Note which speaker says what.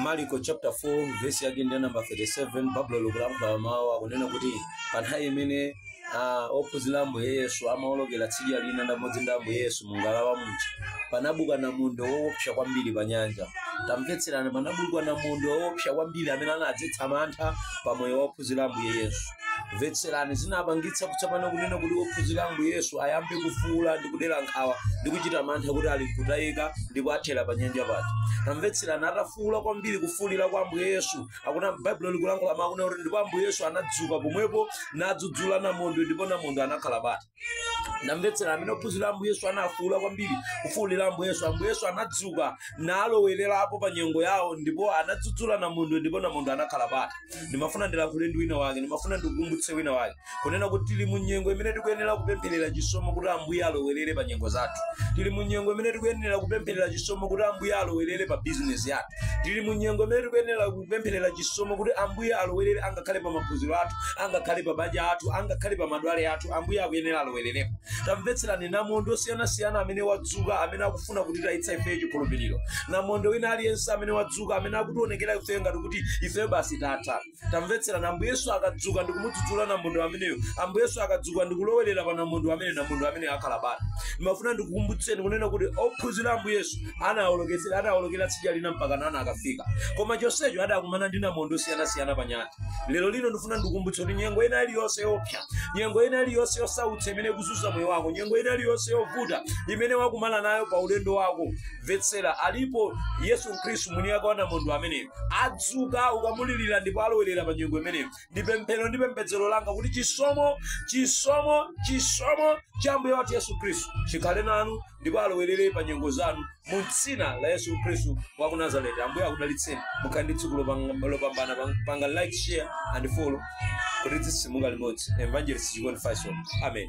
Speaker 1: mariko chapter 4 verse yake ndi namba 37 baibulo likulankhula mawu akunena kuti pa nthawi imene a, ophunzira a ambuye yesu amaolokera tsidya lina limodzi ndi ambuye yesu mu ngalawa muja panabuka namondwe woopsa kwambiri pa nyanja tamvetserani panabuka namondwe woopsa kwambiri amene anadzetsa mantha pa moyo wa ophunzira a ambuye yesu mvetserani zinapangitsa kutsopano kunena kuti ophunzira ambuye yesu ayambe kufuula ndi kudera nkhawa ndi kuchita mantha kuti ali kutayika ndipo athera pa nyanja paja tamvetserani atafuula kwambiri kufuulira kwa ambuye yesu akuti baibulo likulankhula mawu kunena kuti ndipo ambuye yesu anadzuka pomwepo nadzudzula namondwe ndipo namondwe anakhala bata tamvetsera pamene ophunzira ambuye yesu anafuula kwambiri kufuulira ambuye yesu ambuye yesu anadzuka nalowererapo pa nyengo yawo ndipo anadzudzula namondwe ndipo namondwe anakhala bata ndimafuna ndilankhule ndi wina wake ndimafuna ndikukumbutse wina wake kunena kuti tili mu nyengo imene tikuyenera kupempherera chisomo kuti ambuye alowerere pa nyengo zathu tili mu nyengo imene tikuyenera kupempherera chisomo kuti ambuye alowerere pa bizinesi yathu tili mu nyengo imene tikuyenera kupempherera chisomo kuti ambuye alowerere angakhale pa maphunziro athu angakhale pa mabanja athu angakhale pa madwale athu ambuye akuyenera alowererepo tamvetserani namondwe osiyanasiyana amene wadzuka amene akufuna kutitayitsa ifeyo chikhulupiriro namondwe wina aliyense amene wadzuka amene akutionekera ifeyo ngati kuti ifeyo basi tatha tamvetserani ambuye yesu akadzuka ndikumudzudzula namondwe ameneyo ambuye yesu akadzuka ndikulowerera pa namondwe ameneyo namondwe ameneyo akhala bata ndimafuna ndikukumbutseni kunena kuti ophunzira ambuye yesu anawolok- anawolokera tsidya lina mpakana anakafika koma chonsecho adakumana ndi namondwe osiyanasiyana pa nyanja lero lino ndifuna ndikumbutse kuti nyengo ina iliyonse yoopsa nyengo ina iliyonse yosautsa imene ikuzunza moyo wako nyengo ina iliyonse yovuta imene wakumana nayo pa ulendo wako mvetsera alipo yesu khristu mwini wake wa namondwe ameneyo adzuka ukamulirira ndipo alowerera pa nyengo imeneyo ndi pemphero ndi pembedzero langa kuti chisomo chisomo chisomo cha ambuye wathu yesu khristu chikhale nanu ndipo alowerere pa nyengo zanu mu dzina la yesu khristu wa ku nazareti ambuye akudalitseni mukhale ndi tsiku lopang- lopambana panga like share and follow kuti tizinyamuka limodzi evangelist chikondi faison amen